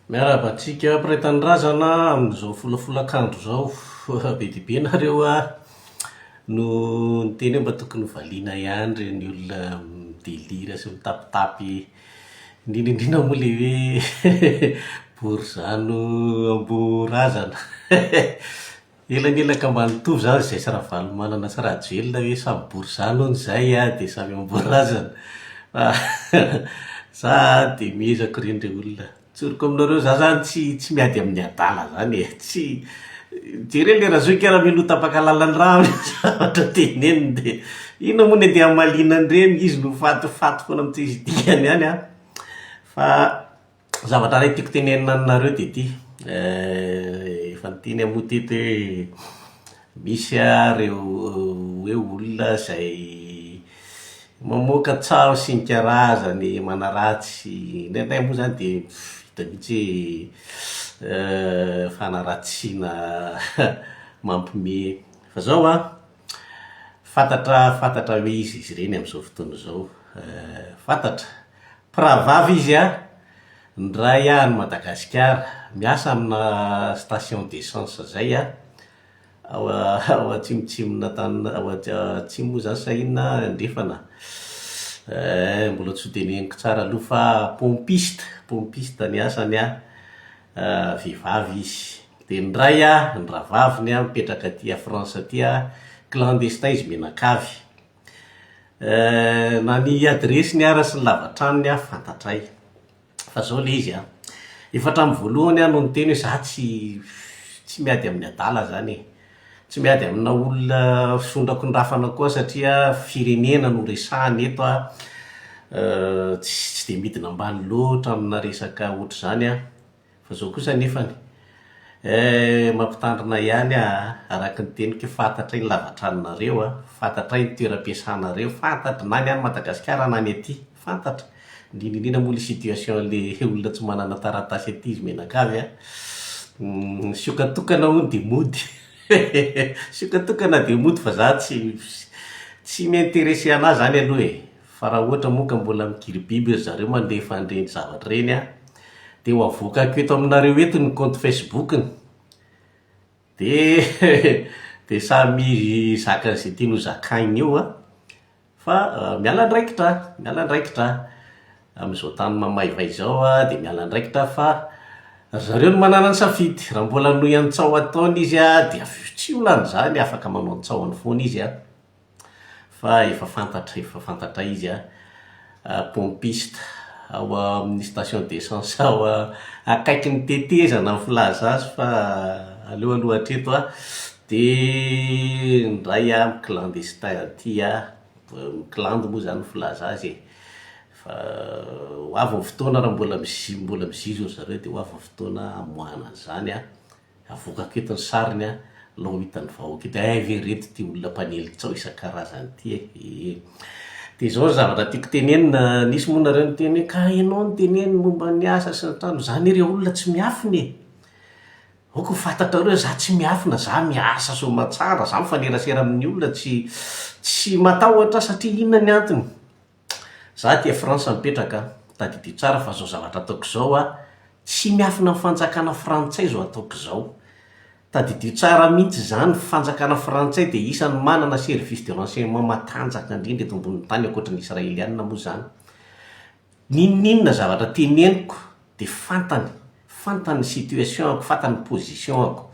Miarahaba antsika mpiray tanindrazana amin'izao folafolakandro izao. Be dia be nareo no niteny hoe mba tokony hovaliana ihany ireny olona mi-delire sy mitapitapy, indrindra indrindra moa ilay hoe borizano amboa razana. Elanelaka ambany toa izany izay sy Ravalomanana sy Rajoelina hoe samy borizano hono izay a, dia samy amboa razana. Fa za dia mihezako ireny re olona. Tsoriko aminareo, za izany tsy tsy miady amin'ny adala izany e. Tsy, jereo ilay Razoky raha mino tapaka lalan'ny rà amin'ireny zavatra teneniny dia inona moa ny andeha hamaliana an'ireny, izy no fatifaty foana amin'ny tsy misy dikany ihany an. Fa Zavatra iray tiako tenenina aminareo dia ity, eh, efa niteny aho moa teto hoe misy àry ireo hoe olona izay mamoaka tsaho sy ny karazany manaratsy. Indraindray moa izany dia vita mihitsy hoe eh, fanaratsiana mampiomehy. Fa izao an, Fantatra fantatra hoe iza izy ireny amin'izao fotoana izao. Fantatra. Mpirahavavy izy an! Niray ahy an'i Madagasikara. Miasa amina station d'essence izay aho, ao Atsimotsimon'Antan- ao Atsimo moa izany sa inona an, Andrefana. Mbola tsy ho teneniko tsara aloha fa pompiste, pompiste ny asany an! vehivavy izy dia ny ray an, ny rahavaviny an, mipetraka aty à France aty an, clandestin izy mianakavy na ny adiresiny ara sy ny lavantranony an fantatray fa zao le izy an, efa hatramin'ny voalohany aho no niteny hoe za tsy miady amin'ny adala zany e. Tsy miady amina olona fisondrakon-drafana koa satria firenena no resahana eto a! Tsy dia midina ambany loatra amina resaka ohatr'izany aho. Fa izao kosa anefany, eh, mampitandrina ihany aho a! Araka ny teniko, fantatray ny lava-tranonareo a! Fantatray ny toeram-piasanareo, fantatry na ny any Madagasikara na ny aty. fantatra, indrindra indrindra moa le situation le olona tsy manana taratasy aty izy mianakavy a, ny sioka tokana hono dia mody sioka tokana dia mody fa za tsy tsy mi-interesser an'azy izany aloha e, fa raha ohatra moa ka mbola migiribiby ry zareo mandefa an'ireny zavatra ireny an, dia ho avoakako eto aminareo eto ny compte Facebook-ny. Dia dia samy hizaka izay tiany ho zakaina eo an! Fa miala andraikitra aho, miala andraikitra aho. Amin'izao tany mamaivay izao aho dia miala andraikitra aho fa ry zareo no manana ny safidy. Raha mbola hanohy ny tsaho ataony izy an, dia avy eo tsy ho lany izany, afaka manao ny tsahony foana izy an! fa efa fantatra efa fantatray izy an! Pompiste ao amin'ny station d'essence ao akaikin'ny tetezana ny filaza azy fa aleo aloha hatreto an! Dia indray an, mi-clandestin aty an! Mi-klandy moa izany ny filaza azy e! Fa ho avy ny fotoana raha mbola mizi- mbola mizizi-dry zareo dia ho avy ny fotoana hamoahana an'izany an! Avoakako eto ny sariny an! Alao ho hitan'ny vahoaka eto. Hay ve ireto ity olona mpanely kitsao isan-karazany ity e! Ee. Dia izao ny zavatra tiako tenenina, nisy moa nareo niteny hoe ka ianao no teneno momba ny asa sy ny trano, izaho nireo olona tsy miafina e! Aoka ho fantatrareo hoe izaho tsy miafina, izaho miasa soamantsara, izaho mifanerasera amin'ny olona, tsy tsy matahotra satria inona ny antony? Za aty a France mipetraka a, tadidio tsara fa zao zavatra ataoko izao a, tsy miafina amin'ny fanjakana frantsay izao ataoko izao. Tadidio tsara mihitsy izany, ny fanjakana frantsay dia isan'ny manana service de renseignement matanjaka indrindra eto ambonin'ny tany, ankoatry ny israelianina moa izany. N'inon'inona zavatra teneniko de fantany fantany ny situation ako fantany ny position ako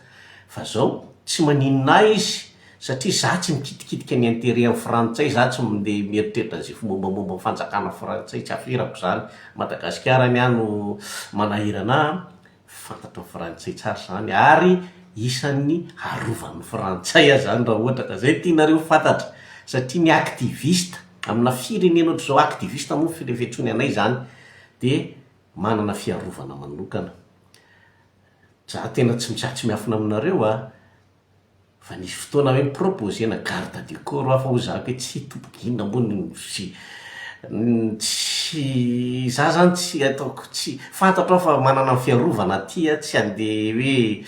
fa zao tsy maninona ahy izy satria za tsy mikitikitika ny interet ny frantsay za tsy mandeha mieritreritra ze mombamomba ny fanjakana frantsay tsy aferako zany madagasikara ny ahy no manahirana ahy fantatry ny frantsay tsara zany ary isan'ny arovan'ny frantsay ahy zany raha ohatra ka zay tianareo ho fantatra satria ny activiste amina firenena ohatr'izao activiste moa ny fitony anay zany dia manana fiarovana manokana. Za tena tsy mitsah tsy miafina aminareo a! Fa nisy fotoana hoe ni-proposer-na garde du corps aho fa hoy zaka hoe tsy tompoko inona moa no sy tsy za zany tsy ataoko tsy fantatro aho fa manana ny fiarovana aty a, tsy handeha hoe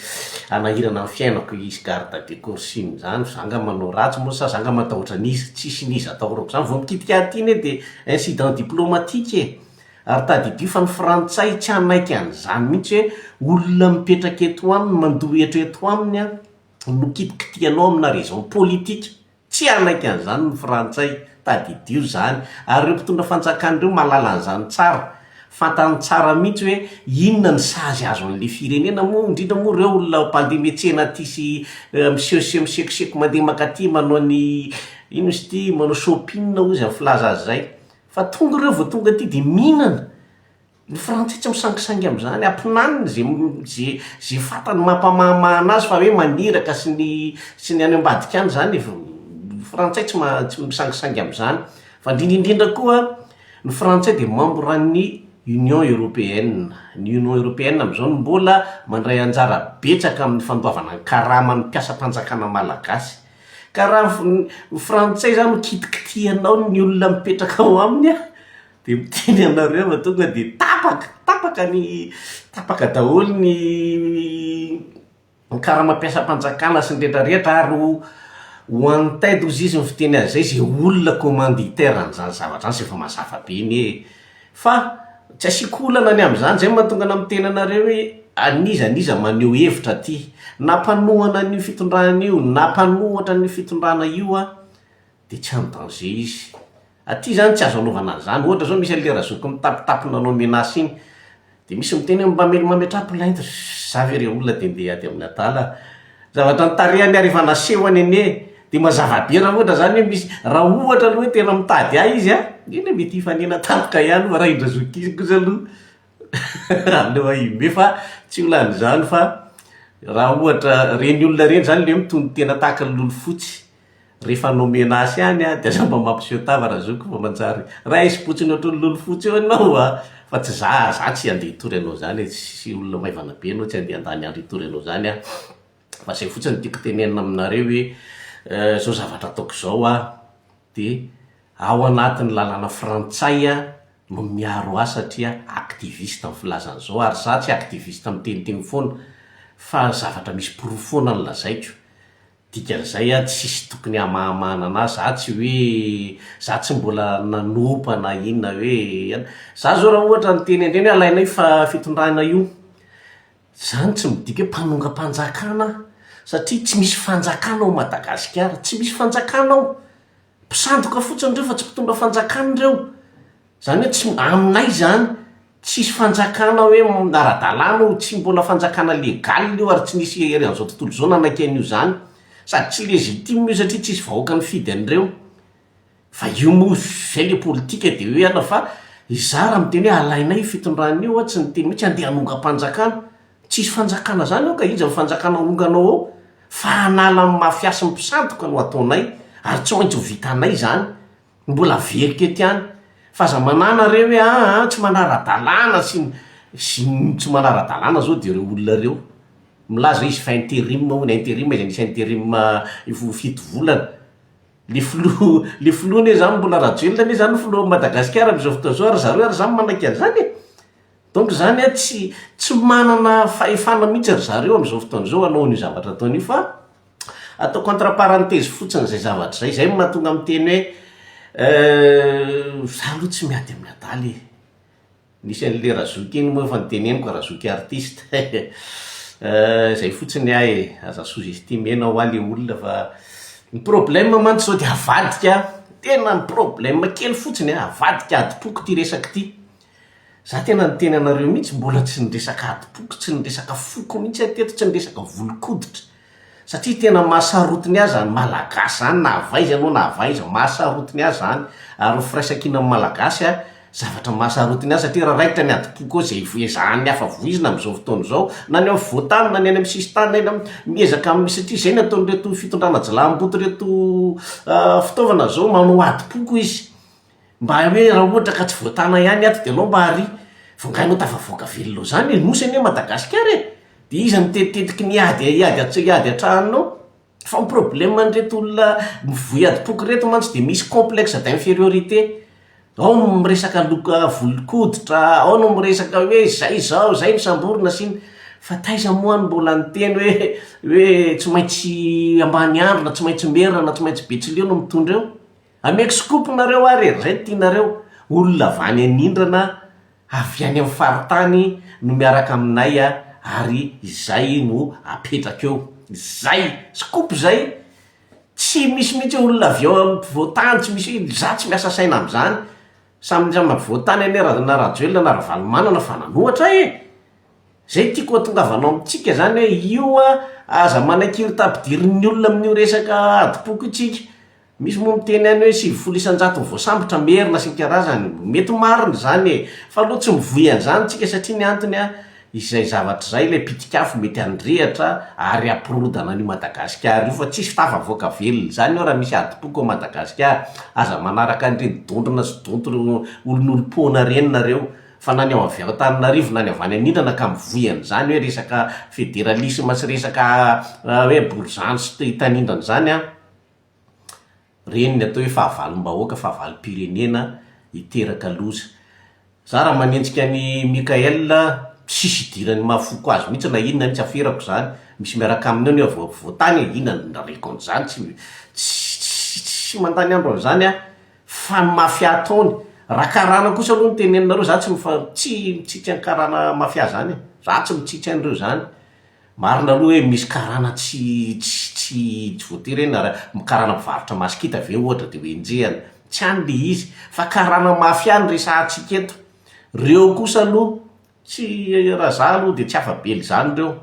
hanahirana ny fiainako hisy garde du corps sy ny zany, za nga manao ratsy moa sa za nga matahotra an'iza, tsisy n'iza atahorako zany, vao mikitika aty anie dia. Incident diplomatique e! Ary tadidio fa ny frantsay tsy hanaiky an'izany mihitsy hoe olona mipetraka eto aminy, mandoa hetra eto aminy an, no kitikitihanao amina raison politique. Tsy hanaiky an'izany ny frantsay, tadidio izany. Ary ireo mpitondra fanjakana ireo mahalala an'izany tsara. Fantany tsara mihitsy hoe inona ny sazy azo an'le firenena moa, indrindra moa reo olona mpandeha mihetsena aty sy miseho sy misekoseko mandeha mankaty manao ny ino izy ity, manao shopping hoy izy amin'ny filaza azy izay. Fa tonga reo vao tonga aty dia mihinana. Ny frantsay tsy misangisangy amin'izany, ampinaniny ze ze ze fantany mampamahamaha anazy fa hoe maniraka sy ny sy ny any ambadika any izany, ny frantsay tsy ma tsy misangisangy amin'izany. Fa indrindra indrindra koa Ny Frantsay dia mambra ny Union Européenne. Ny Union Européenne amin'izao no mbola mandray anjara betsaka amin'ny fandoavana ny karama ny mpiasam-panjakana malagasy. Ka raha ny Frantsay izany no kitikitihanao ny olona mipetraka ao aminy an, dia miteny anareo fa tonga dia tapaka, tapaka ny, tapaka daholo ny. ny karama-piasam-panjakana sy ny rehetra rehetra ary ho ho an'ny ted hozy izy mifiteny azy izay izay olona commanditaire an'izany zavatra izany izay efa mazava be ny ee fa tsy asiako olana ny amin'izany izay no mahatonga anà miteny anareo hoe an'iza an'iza maneho hevitra aty nampanohana an'io fitondrana io nampanohatra an'io fitondrana io aho dia tsy any danger izy. Aty zany tsy azo anaovana an'izany. Ohatra zao misy an'ilay razoky mitapitapy nanao menace iny. Dia misy miteny hoe mamely mametraha plainte. Za ve re olona dia ndeha ady amin'ny adala. Zavatra ny tarehany ary efa nasehony anie. Dia mazava be raha ohatra zany hoe misy, raha ohatra aloha hoe tena mitady ahy izy an, dia le mety hifanena tampoka ihany moa raha indrazoky iny kosa aloha aleo aho hime fa tsy ho lany izany fa raha ohatra reny olona reny zany le mitony tena tahaka ny lolofotsy. Rehefa nomena azy ihany aho dia lamba mampiseho tava raha zoky vao manjary raisim-potsiny ohatran'ny lolo fotsy eo ianao a! Fa tsy za, za tsy handeha hitory anao izany e, tsy olona maivana be anao tsy handeha handany andro hitory anao izany aho. Fa izay fotsiny no tiako tenenina aminareo hoe izao zavatra ataoko izao aho dia ao anatin'ny lalàna frantsay aho no miaro ahy satria activiste amin'ny filazana izao ary za tsy activiste miteniteny foana fa zavatra misy porofo foana no lazaiko. Dikan'izay a, tsisy tokony hamahamahana anazy, za tsy hoe, za tsy mbola nanompa na inona hoe an, za zao raha ohatra niteny an-dreny hoe alainao io fa fitondrana io, zany tsy midika hoe mpanongam-panjakana aho, satria tsy misy fanjakana ao Madagasikara, tsy misy fanjakana ao, mpisandoka fotsiny ireo fa tsy mpitondra fanjakana ireo, Zany hoe tsy, aminay zany, tsisy fanjakana hoe ara-dalàna io, tsy mbola fanjakana legal io ary tsy nisy hery an'izao tontolo izao nanaiky an'io zany. Sady tsy legitime io satria tsisy vahoaka nifidy an'ireo. Fa io moa izay le politika de hoe ana fa izaho raha miteny hoe alainay io fitondrana io aho tsy niteny mihitsy andeha hanongam-panjakana. Tsisy fanjakana zany ao ka iza ny fanjakana aonganao ao? Fa hanala ny mafia sy ny mpisandoka no ataonay ary tsy maintsy ho vitanay zany. mbola aveliko ety ihany fa aza manàna re hoe aa tsy manara-dalàna sy ny sy ny tsy manara-dalàna zao dia reo olona reo milaza izy fa interim hono ny interim izay misy interim efa ho fito volana le filoha le filoha anie zany mbola rajoelina anie zany filohan'ny madagasikara am'izao fotoana izao ary zareo ary zany manaiky an'izany e donc zany hoe tsy tsy manana fahefana mihintsy ry zareo am'izao fotoana izao hanao an'io zavatra ataony io fa Ataoko entre parenthèse fotsiny izay zavatra izay. Izay no mahatonga miteny hoe Euh, za aloha tsy miady amin'ny adala e. Nisy an'le Razoky iny moa efa noteneniko ka Razoky artiste. Euh, izay fotsiny ahy e. Aza sous-estimer-na hoa le olona fa ny problème mantsy izao dia avadika, tena ny problème kely fotsiny an, avadika adim-poko ity resaka ity. Za tena niteny anareo mihitsy mbola tsy niresaka adim-poko, tsy niresaka foko mihitsy aho teto, tsy niresaka volon-koditra, satria tena maha sarotiny ahy zany malagasy zany na avy aiza ianao na avy aiza, maha sarotiny ahy zany, ary ny firaisankina amin'ny malagasy an, zavatra maha sarotiny ahy satria raha raikitra ny adim-poko ao zay ezahan'ny hafa voizina amin'izao fotoana izao, na ny afovoan-tany na ny any amin'ny sisin-tany na eny am, miezaka amin'ny, satria izay no ataon'ireto fitondrana jilamboto ireto fitaovana izao, manao adim-poko izy. Mba hoe raha ohatra ka tsy voatana ihany ato de anao mba ary vao ngahy no tafavoaka velona ao zany e, nosy anie Madagasikara e, de iza no mitetitetiky ny ady hiady atsy hiady atrahanao? fa ny problème an'ireto olona mivoy adim-poko ireto mantsy de misy complexe d'infériorité, ao no miresaka loka volon-koditra, ao no miresaka hoe zay zao, zay no samborina sy ny, fa taiza moa no mbola niteny hoe hoe tsy maintsy ambaniandro na tsy maintsy merina na tsy maintsy betsileo no mitondra eo? Ameko scoop nareo ary e, zay ny tianareo, olona vany anindrana avy any amin'ny faritany no miaraka aminay ary izay no apetraka eo, zay, scoop zay, tsy misy mihitsy hoe olona avy ao ampovoantany, tsy misy hoe, za tsy miasa saina amin'izany, samy ny ampovoantany anie ra, na rajoelina na ravalomanana fa nanohatra e! zay tiako ahatongavanao amintsika zany hoe io an, aza manaiky irta ampidirin'ny olona amin'io resaka adim-poko io tsika, Misy moa miteny any hoe sivifolo isan-jato ny voasambotra, merina sy ny karazany. Mety ho marina izany e! Fa aloha tsy mivoy an'izany isika satria ny antony an, izay zavatra izay ilay pitik'afo mety handrehitra ary hampirodana an'io Madagasikara io fa tsisy tafa-voaka velona izany eo raha misy adim-poko ao Madagasikara. Aza manaraka an'ireny dondrona sy donto olon'olom-poana ireny nareo fa na ny ao avy ao Antananarivo na ny avy any anindrana ka mivoy an'izany hoe resaka federalisme sy resaka hoe borizano sy tanindrana izany an! Ireny ny atao hoe fahavalom-bahoaka, fahavalom-pirenena hiteraka loza. Za raha manenjika an'i Mickaël a, tsisy idiran'ny maha foko azy mihitsy na inona, tsy aferako izany, misy miaraka aminy ao nefa vao vao tany e, inona no nirariako an'izany, tsy mi, tsy, tsy, tsy mandany andro amin'izany aho, fa ny mafia ataony, raha karana kosa aloha no teneninareo, za tsy mifa, tsy mitsitsy an'i karana mafia izany e, za tsy mitsitsy an'ireo izany, Marina aloha hoe misy karana tsy tsy tsy voatery hoe na karana mpivarotra masikita ve ohatra dia ho enjehina. Tsy any ilay izy. Fa karana mafia no resahantsika eto. Ireo kosa aloha, tsy raha izaho aloha dia tsy afa-bela izany ireo.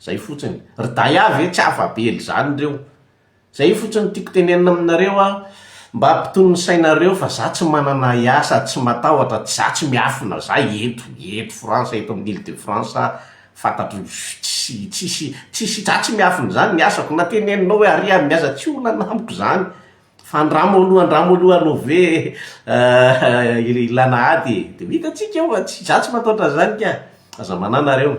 Izay fotsiny. Ry Daia ve tsy afa-bela izany ireo. Zay io fotsiny tiako tenenina aminareo a, mba ampitony ny sainareo fa za tsy manana ahiahy sady tsy matahotra, tsy za tsy miafina za eto, eto France, eto amin'ny Ile de France a, fantatro tsy, tsisy, tsisy, za tsy miafina izany ny asako, na teneninao hoe aria amin'ny asa tsy olana amiko zany, fa andramo aloha, andramo aloha alou ve ilana ady e, de vita tsika eo fa tsy, za tsy matahotra an'izany ka, aza manahy nareo.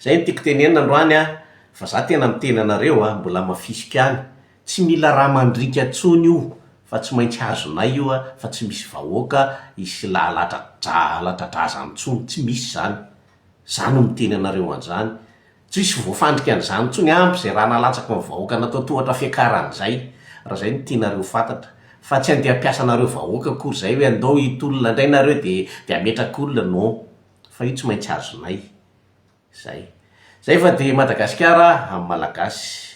Zay no tiako tenenina androany an! Fa za tena miteny anareo an! Mbola mafisika any! Tsy mila ra mandriaka tsony io fa tsy maintsy hazonay io an! Fa tsy misy vahoaka hisy lalatradrazany tsony! Tsy misy zany! Za no miteny anareo anzany! Tsy hisy voafandrika anzany tsony ampy zay ra nalatsaky ny vahoaka natao tohatra fiakarany zay! Ra zay no tianareo fantatra! Fa tsy andeha ampiasa anareo vahoaka akory zay hoe andao hitolona ndray nareo de de ametraka olona! Non! fa io tsy maintsy azonay. Zay. Zay fa dia Madagasikara amin'ny Malagasy.